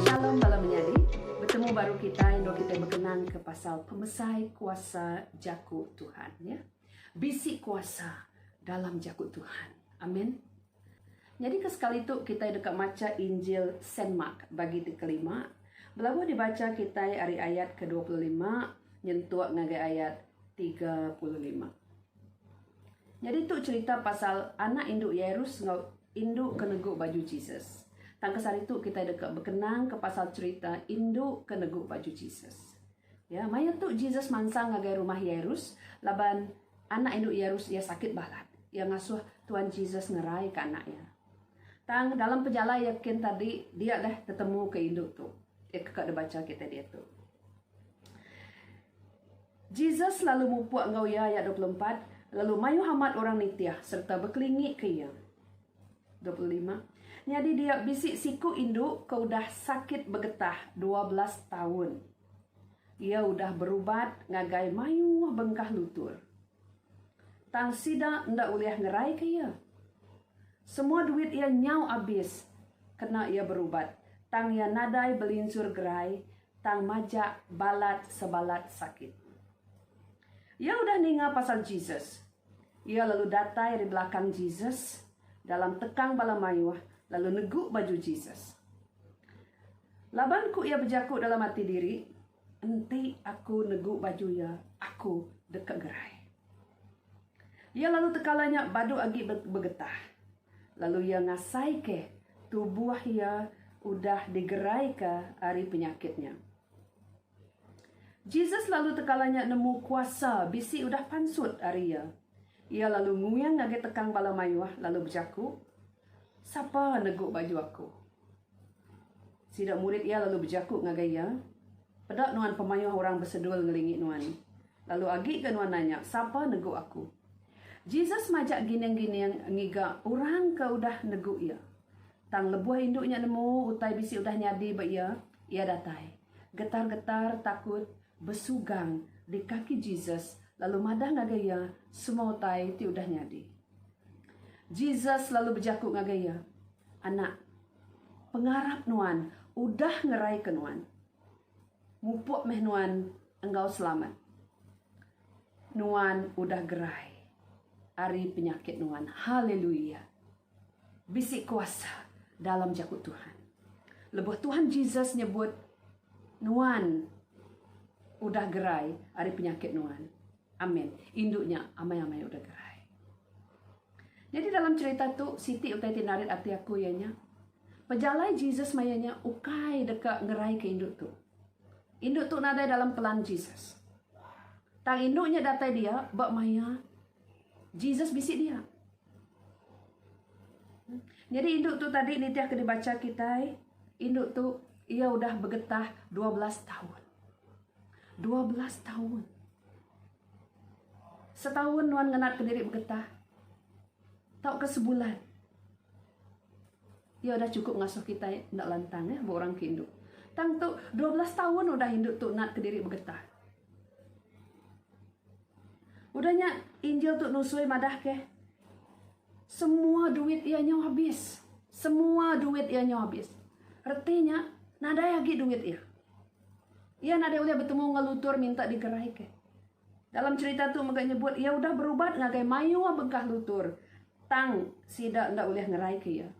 Shalom bala menyadi, betemu baru kitai endur kitai bekenang ke pasal pemesai kuasa jaku Tuhan ya. Bisi kuasa dalam jaku Tuhan. Amen. Nyadika sekali tu kitai deka macha Injil Saint Mark bagi ti kelima. Belabuh dibacha kitai ari ayat ke dua puluh lima nyentuk ngagai ayat tiga puluh lima. Nyadi tu cherita pasal anak indu Yairus enggau indu ke negu baju Jesus. Tang ke sehari tu kitai deka bekenangka pasal cherita indu ke negu baju Jesus. Ya, maya tu Jesus mansang ngagai rumah Yairus laban. Anak indu Yairus iya sakit balat. Iya ngasuh Tuan Jesus ngeraika anak iya. Tang, dalam pejalai iya kin tadi, dia leh tetemuka indu tu. Iya ke ka dibacha kitai diatu. Jesus lalu mupuk enggau iya, ayat dua puluh empat, lalu mayuh amat orang nitih sereta bekelingika iya. Dua puluh lima. Nyadi dia bisi siku indu ke udah sakit begetah dua belas taun. Iya udah berubat ngagai mayuh bengkah lutur. Tang sida enda ulih ngeraika iya. Semua duit iya nyau abis kena iya berubat tang iya nadai belinsur gerai tang majak balat sebalat sakit. Iya udah ninga pasal Jesus. Iya lalu datai ari belakang Jesus dalam tekang bala mayuh lalu negu baju Jesus. Laban ku iya bejaku dalam ati diri, Enti aku negu baju iya, aku deka gerai. Iya lalu tekala nya badu agi begetah. Lalu iya ngasaika tubuh iya udah digeraika ari penyakit nya. Jesus lalu tekala nya nemu kuasa bisi udah pansut ari iya. Iya lalu nguing ngagai tekang bala mayuh lalu bejaku, Sapa negu baju aku? Sida murid iya lalu bejaku ngagai iya, Peda nuan pemayuh orang besedul ngelingi nuan, lalu agi ga nuan nanya, Sapa negu aku? Jesus majak gining-gining ngiga orang ke udah negu iya. Tang lebuh indu nya nemu utai bisi udah nyadi ba iya, iya datai. Getar-getar takut besugang di kaki Jesus lalu madah ngagai iya semua utai ti udah nyadi. Jesus lalu bejaku ngagai iya, Anak, pengarap nuan udah ngeraika nuan. Mupuk meh nuan enggau selamat. Nuan udah gerai ari penyakit nuan. Haleluia! Bisi kuasa dalam jaku Tuhan. Lebuh Tuhan Jesus nyebut nuan udah gerai ari penyakit nuan. Amen. Indu nya amai-amai udah gerai. Nyadi dalam cherita tu, siti utai ti narit ati aku iya nya, pejalai Jesus maya nya ukai deka ngeraika indu tu. Indu tu nadai dalam pelan Jesus. Tang indu nya datai dia ba maya Jesus bisi dia. Nyadi indu tu tadi nitih ke dibaca kitai, indu tu ia udah begetah 12 tahun. 12 tahun. Setahun nuan ngenat ke diri begetah. Tau ke sebulan. Ia udah cukup ngasuh kita nda lantang eh bu orang ke indu. Tang tu 12 tahun udah indu tu nat ke diri begetah. Udah nya, injil tu nusui madahke, Semua duit iya nyau habis. Semua duit iya nyau habis. Reti nya, nadai agi duit iya. Iya nadai ulih betemu enggau lutur minta digeraika. Dalam cerita tu mega nyebut iya udah berubat ngagai mayuh begah lutur tang sida enda ulih ngeraika iya.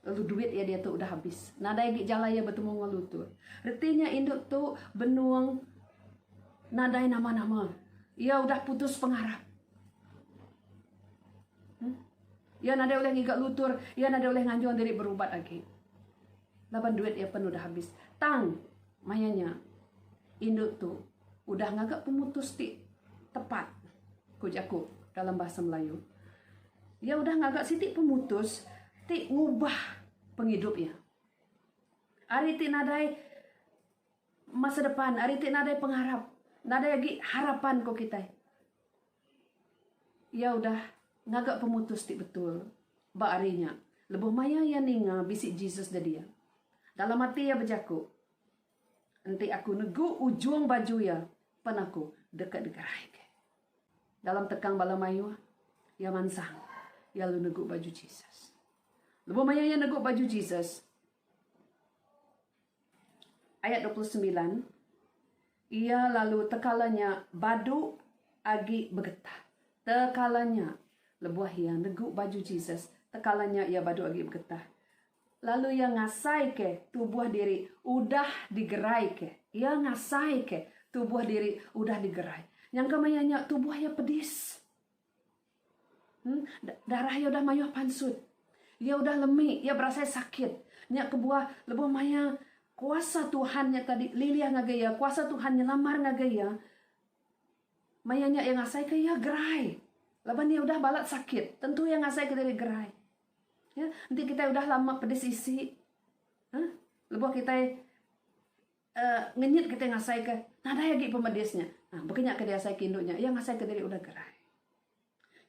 Lalu duit iya diatu udah habis. Nadai agi jalai iya betemu enggau lu tu. Reti nya indu tu benung nadai nama-nama. Iya udah putus pengarap. Hmm? Iya nadai ulih ngiga lutur, iya nadai ulih nganjung diri berubat agi. Laban duit iya pen udah habis. Tang maya nya indu tu udah ngaga pemutus ti tepat ku jaku dalam bahasa Melayu. Iya udah ngaga siti pemutus ti ngubah pengidup iya. Ari ti nadai masa depan, ari ti nadai pengarap, nadai agi harapan ko kitai. Iya udah ngaga pemutus ti betul ba ari nya lebuh maya iya ninga bisi Jesus nyadi iya. Dalam ati iya bejaku. Enti aku negu ujung baju iya, pan aku deka digeraika. Dalam tekang bala mayuh, iya mansang iya lalu negu baju Jesus. Lebuh maya iya negu baju Jesus, ayat dua puluh semilan, iya lalu tekala nya badu agi begetah. Tekala nya, lebuh iya negu baju Jesus, tekala nya iya badu agi begetah. Lalu iya ngasaika tubuh diri udah digeraika. Iya ngasaika tubuh diri udah digerai. Nyangka maya nya tubuh iya pedis. Em, darah iya udah mayuh pansut. Iya udah lemi, iya berasai sakit. Nya kebuah lebuh maya kuasa Tuhan nya tadi lilih ngagai iya, kuasa Tuhan nyelamar ngagai iya, maya nya iya ngasaika iya gerai. Laban iya udah balat sakit, tentu iya ngasaika diri gerai. Ya, enti kitai udah lama pedis isi, uhh, lebuh kitai uhh ngenyit kitai ngasaika nadai agi pemedis nya, uhh baka nya ke diasai ke indu nya, iya ngasaika diri udah gerai.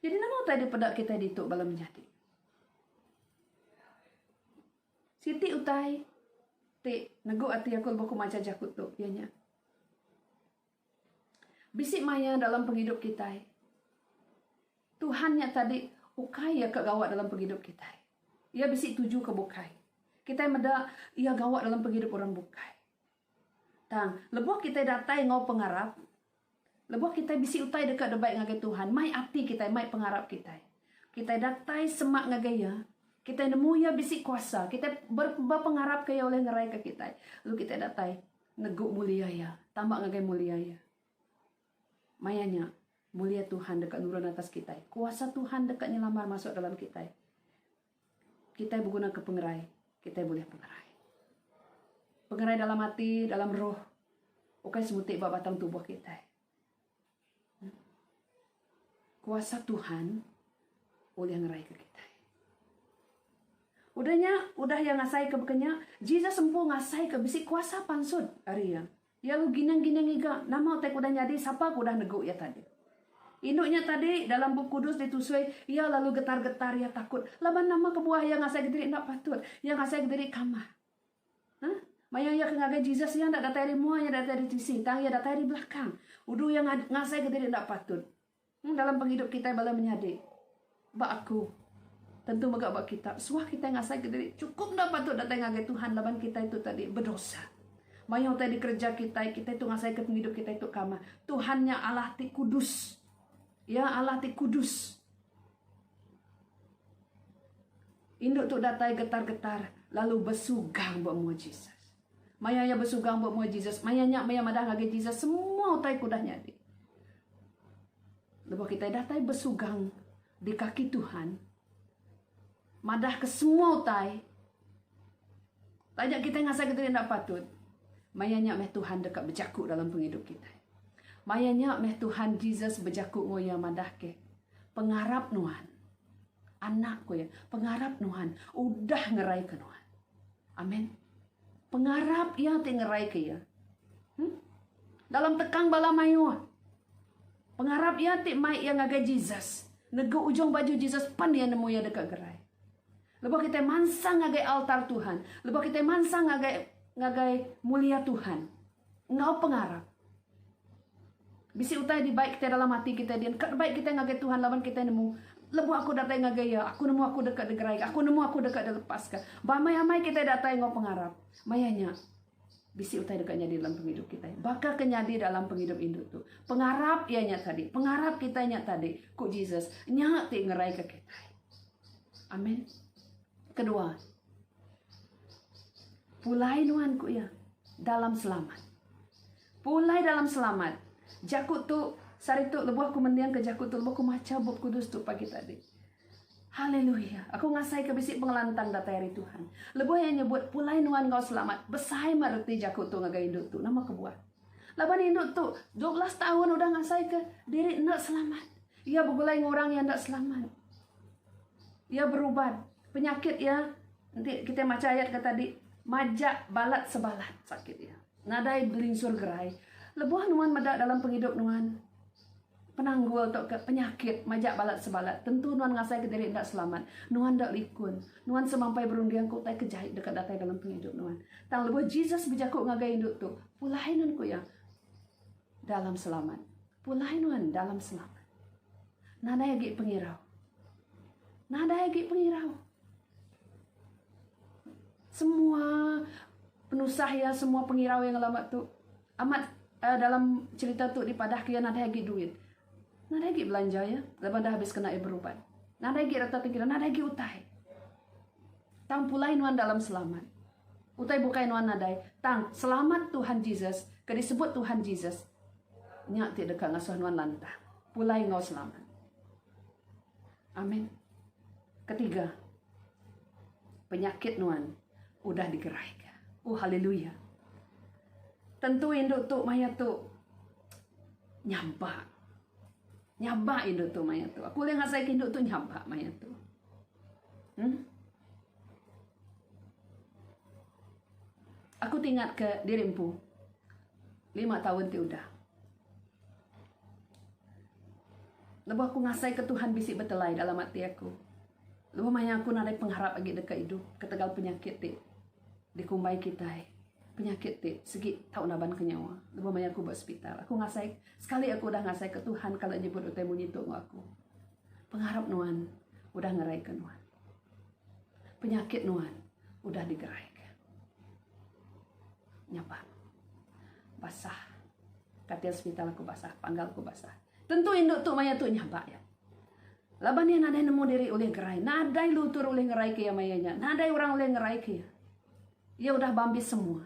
Jadi nama utai dipeda kitai ditu bala menyadi? Siti utai ti negu ati aku lebuh aku macha jaku tu iya nya. Bisi maya dalam pengidup kitai, Tuhan nya tadi ukai iya ke gawa dalam pengidup kitai. Iya bisi tuju ke bukai. Kitai meda iya gawa dalam pengidup orang bukai. Tang, lebuh kitai datai enggau pengarap, lebuh kitai bisi utai deka dibai ngagai Tuhan, mai ati kitai, mai pengarap kitai. Kitai datai semak ngagai iya, kitai nemu iya bisi kuasa, kitai ber, bepengarapka iya ulih ngeraika kitai. Lalu kitai datai Negu mulia iya. Tama ngagai mulia iya. Maya nya, mulia Tuhan deka nurun atas kitai. Kuasa Tuhan deka nyelamar masuk dalam kitai. Kitai begunaka pengerai. Kitai bulih pengerai. Pengerai dalam ati, dalam roh. Ukai semuti ba batang tubuh kitai. Kuasa Tuhan ulih ngeraika kitai. Udah nya, udah iya ngasaika baka nya, Jesus empu ngasaika bisi kuasa pansut ari iya. Iya ulih gining-gining ngiga nama utai ke udah nyadi, sapa ke udah negu iya tadi. Indu nya tadi, dalam Bup Kudus ditusui, Iya lalu getar-getar iya takut laban nama kebuah iya ngasaika diri enda patut. Iya ngasaika diri kamah. Hah? Maya iya ke ngagai Jesus, iya enda datai ari mua, iya enda datai ari tisi, tang iya datai ari belakang. Udu iya ngasaika diri enda patut. Hmm, dalam pengidup kitai bala menyadi, ba aku, tentu mega ba kita, suah kitai ngasaika diri chukup enda patut datai ngagai Tuhan laban kitai tu tadi bedosa. Mayuh utai dikereja kitai, kitai tu ngasaika pengidup kitai tu kamah. Tuhan nya Allah ti kudus. Iya Allah ti kudus. Indu tu datai getar-getar lalu besugang ba mua Jesus. Maya iya besugang ba mua Jesus, maya nya maya madah ngagai Jesus semua utai ke udah nyadi. Lebuh kitai datai besugang di kaki Tuhan, Madah ke semua utai. Taja kitai ngasai ke diri enda patut, maya nya meh Tuhan deka bejaku dalam pengidup kitai. Maya nya meh Tuhan Jesus bejaku enggau iya madah ke, Pengarap nuan. Anak, ku iya, pengarap nuan udah ngeraika nuan. Amen. Pengarap iya ti ngeraika iya. Huh? Dalam tekang bala mayuh. Pengarap iya ti mai iya ngagai Jesus. Negu ujung baju Jesus pan iya nemu iya deka gerai. Lebuh kitai mansang ngagai altar Tuhan, lebuh kitai mansang ngagai ngagai mulia Tuhan, Enggau pengarap. Bisi utai dibai kitai dalam ati kitai dian ka dibai kitai ngagai Tuhan laban kitai nemu, Lebuh aku datai ngagai Iya, aku nemu aku deka digeraika, aku nemu aku deka dilepaska. Ba amai-amai kitai datai enggau pengarap. Maya nya, bisi utai deka nyadi dalam pengidup kitai. Baka ke nyadi dalam pengidup indu tu. Pengarap iya nya tadi. Pengarap kitai nya tadi, ku Jesus, nya ti ngeraika kitai. Amen. Kedua. Pulai nuan, ku iya, dalam selamat. Pulai dalam selamat. Jaku tu, sehari tu lebuh aku mendingka jaku tu, lebuh aku macha Bup Kudus tu pagi tadi. Haleluya. Aku ngasaika bisi pengelantang datai ari Tuhan. Lebuh iya nyebut, pulai nuan enggau selamat. Besai mah reti jaku tu ngagai indu tu. Nama kebuah? Laban indu tu, 12 taun udah ngasaika diri enda selamat. Iya begulai ngurang iya enda selamat. Iya berubat. Penyakit iya enti kitai macha ayat ke tadi majak balat sebalat sakit iya. Nadai belinsur gerai. Lebuh nuan meda dalam pengidup nuan penanggul tu ke penyakit majak balat sebalat tentu nuan ngasai ke diri enda selamat. Nuan enda likun. Nuan semampai berunding ke utai ke jai deka datai dalam pengidup nuan. Tang lebuh Jesus bejaku ngagai indu tu, pulai nan ku iya. Dalam selamat. Pulai nuan dalam selamat. Nadai agi pengirau. Nadai agi pengirau. Semua penusah iya, semua pengirau iya ngelama tu amat uh, dalam cerita tu dipadahka iya nadai agi duit. Nadai agi belanja iya leban dah habis kena iya berubat. Nadai agi reta tengkira, nadai agi utai. Tang pulai nuan dalam selamat. Utai bukai nuan nadai, tang Selamat Tuhan Jesus ke disebut Tuhan Jesus nya ti deka ngasuh nuan lantang pulai enggau selamat. Amen. Ketiga, penyakit nuan udah digeraika. Oh, haleluya. Tentu indu tu maya tu nyabak. Nyabak indu tu maya tu. Aku ulih ngasaika indu tu nyabak maya tu. Hmm? Aku ti ingat ke diri empu lima taun ti udah. Lebuh aku ngasai ke Tuhan bisi betelai dalam ati aku. Lebuh maya aku nadai pengharap agi deka idup ketegal penyakit ti dikumbai kitai. Penyakit ti sigi tau naban ke nyawa. Lebuh maya aku ba sepital aku ngasai sekali aku udah ngasai ke Tuhan kala nyebut utai munyi tu enggau aku. Pengarap nuan udah ngeraika nuan. Penyakit nuan udah digeraika. Nyapa. Basah. Katil sepital aku basah. Panggal aku basah. Tentu indu tu maya tu nyabak iya. Laban iya nadai nemu diri ulih gerai. Nadai lutur ulih ngeraika iya maya nya. Nadai orang ulih ngeraika iya. Iya udah bambis semua.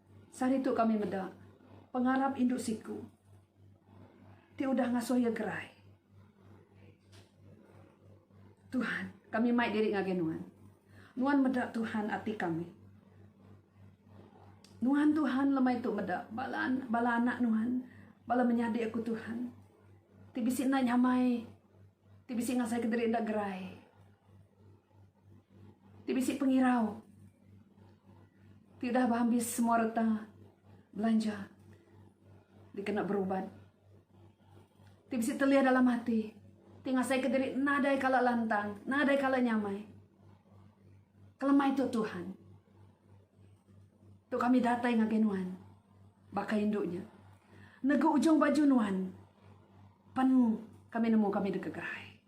Sehari tu kami meda pengarap indu siku ti udah ngasuh iya gerai. Tuhan, kami mai diri ngagai Nuan. Nuan meda Tuhan ati kami. Nuan Tuhan lemai tu meda bala bala anak Nuan, bala menyadi aku Tuhan. Ti bisi enda nyamai, ti bisi ngasaika diri enda gerai. ti bisi pengirau ti udah beambis semua reta belanja dikena berubat ti bisi telih dalam ati ti ngasaika diri nadai kala lantang nadai kala nyamai kelemai tu Tuhan tu kami datai ngagai nuan baka indu nya negu ujung baju nuan pan kami nemu kami deka gerai.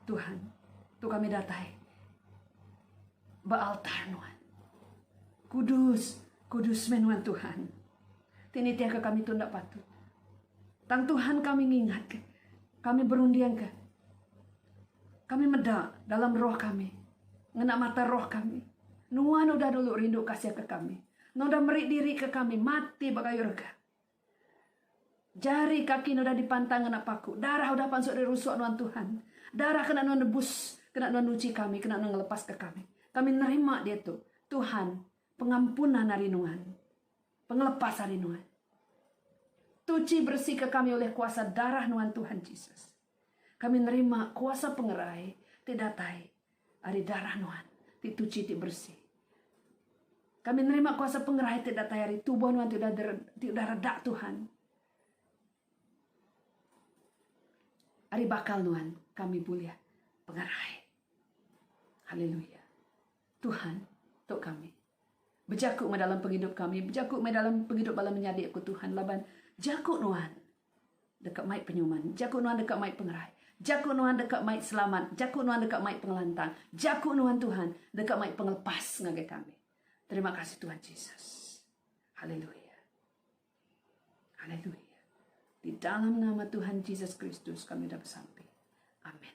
Tuhan, tu kami datai ba altar nuan. Kudus, kudus meh nuan Tuhan. Ti nitihka kami tu enda patut. Tang Tuhan kami ngingat ke, kami berunding ke. Kami meda dalam roh kami, ngena mata roh kami. Nuan udah dulu rindu kasih ke kami. Nuan udah meri diri ke kami mati ba kayu rega. Jari kaki ne udah dipantang ngena paku, darah udah pansut ari rusuk nuan Tuhan. Darah kena nuan nebus, kena nuan nuchi kami, kena nuan ngelepaska kami. Kami nerima diatu, Tuhan, pengampunan ari nuan, pengelepas ari nuan. Tuchi beresika kami ulih kuasa darah nuan Tuhan Jesus. Kami nerima kuasa pengerai ti datai ari darah nuan ti tuchi ti bersih. Kami nerima kuasa pengerai ti datai ari tubuh nuan ti udah ti udah reda Tuhan. Ari bakal nuan kami bulih pengerai. Haleluya. Tuhan tu kami. Bejaku meh dalam pengidup kami, bejaku meh dalam pengidup bala menyadi ku Tuhan laban jaku nuan deka mai penyuman, jaku nuan deka mai pengerai, jaku nuan deka mai selamat, jaku nuan deka mai pengelantang, jaku nuan Tuhan deka mai pengelepas ngagai kami. Terima kasih Tuhan Jesus. Haleluya. Haleluya. Di dalam nama Tuhan Jesus Kristus kami dah bersampai. Amin.